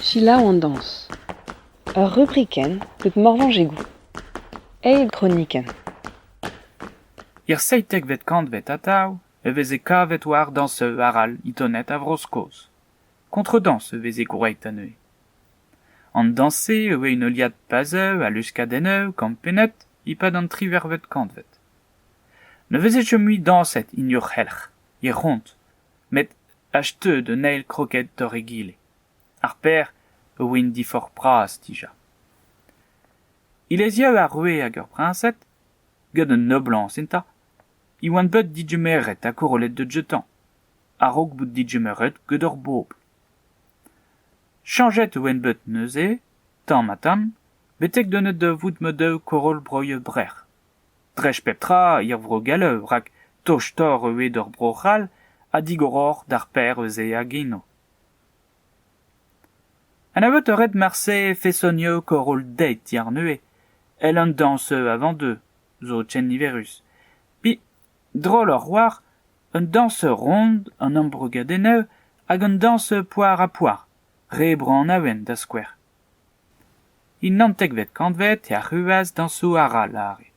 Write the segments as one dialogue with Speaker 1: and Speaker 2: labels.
Speaker 1: Selaou an dañs. Ur rubrikenn deut Morvañs Egoù. Eil gronikenn.
Speaker 2: Er seitekvet kantved atav e veze kavet war dañseu arall Itoned a Vro-Skos. Kontredañs e veze gwraet neuze. An dañs-se e oa un heuliad pazeu a luskadennoù kampennet e-pad an tri vervet kantved. Ne veze chom mui dañset hini o c'helc'h, he c'hont, met acheteut un eil kroked doc'h egile. Ar paer a oa int diforc'h-bras dija. Hileziañ ar roue hag ar priñsed, gant un noblañs enta, e oant bet digemeret ha korollet da deuet a-raok bout digemeret gant ur bobl. Chañjet e oan bet neuze, tamm-ha-tamm, betek denet da vout ma-daou koroll-broioù brec'h. Dreist pep tra er vro gallav rak tostoc'h eo eo d'ur bro c'hall ha digoroc'h d'ar paer ez eo hag eno. Anvet a ret marse fesonioù koroll-deit yar neuze, èl an dañsoù avant-deux zo ken niverus. Pe Drollour war un dañseur ront an embrogadennoù hag un dañseur poar-ha-poar, re Bro-Annaouen da skouer. En naontekvet kantved e arruas dañsoù arall are: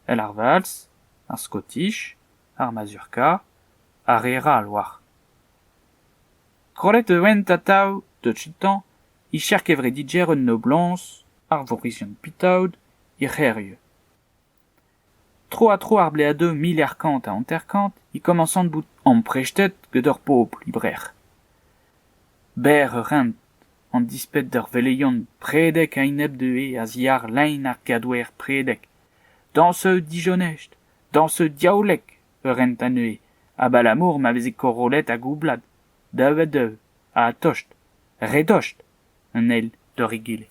Speaker 2: el ar valz, ar skotish, ar mazurka, ar re ral war. Kollet e oent atav touch-tañ e cher kevrediger un noblañs, ar vorizion pitaod, er c'hêrioù. Tro-ha-tro ar bleadoù mil e'c'h kant ha hanter-kant e komañsont bout amprestet gant ur pobl e Brec'h. Berr ur hent, an disped d'ur veleion predek a-enep dezhe a-ziàr lein ar gadwer predek. Dañsoù dijonest, dañsoù diaoulek ur hent anezhe, abalamour ma veze korollet hag oublad, daou-ha-daou, ha tost, re dost, an eil d'hor egile.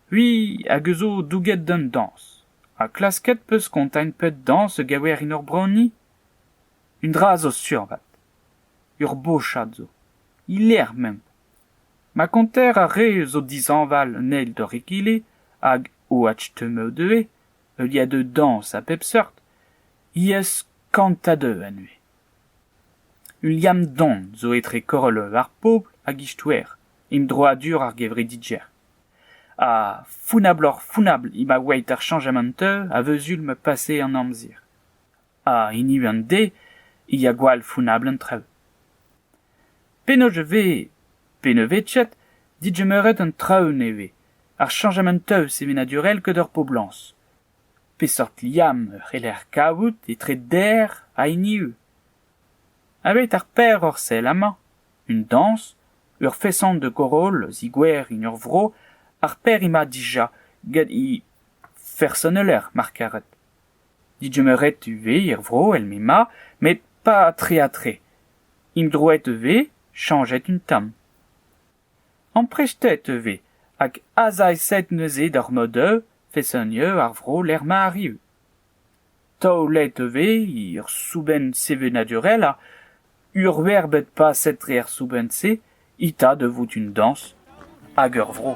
Speaker 2: C'hwi hag a zo douget d'an dañs, ha klasket 'peus kontañ pep dañs a gaver en hor broni ? Un dra zo sur vat, ur bochad zo, e-lec'h m'emp. Ma konter ar re zo dishañval an eil d'hor egile hag OH-Teumeu ivez, heuliañ deu dañs a bep seurt, he-eus kant a deu anezhe. Liam Don zo etre Korollev ar Pobl hag Istouer, emdroadur ar gevredigezh. Ha founabloc'h-founabl eo ma oeit ar chañjamant-eu a veu sul ma pase an amzer. Ha hini an deiz e ya gwall founabl an traoù. Penaos e vez pennvezhiet digemeret an traoù nevez, ar chañjamant-eu sevenadurel gant ar poblañs. Peseurt liamm e c'heller kavout etre Der ha hiniv ? Aveit ar Per Orsel amañ, un dañs, ur feson de Goroll a zigouer en ur vro ar Pêr-Ima dija gant he fersoneller mar karet. Digemeret e vez er vro el m'emañ met pas tre-ha-tre. Emdroet e vez, chañjet un tamm. Amprestet e vez hag azaeset neuze d'ar Modeu fesennier ar vro lec'h ma arriu. Taolet e vez ur soubenn sevenadurel ha urver bet paset dre ar soubenn-se eta da vout un dañs hag ur vro.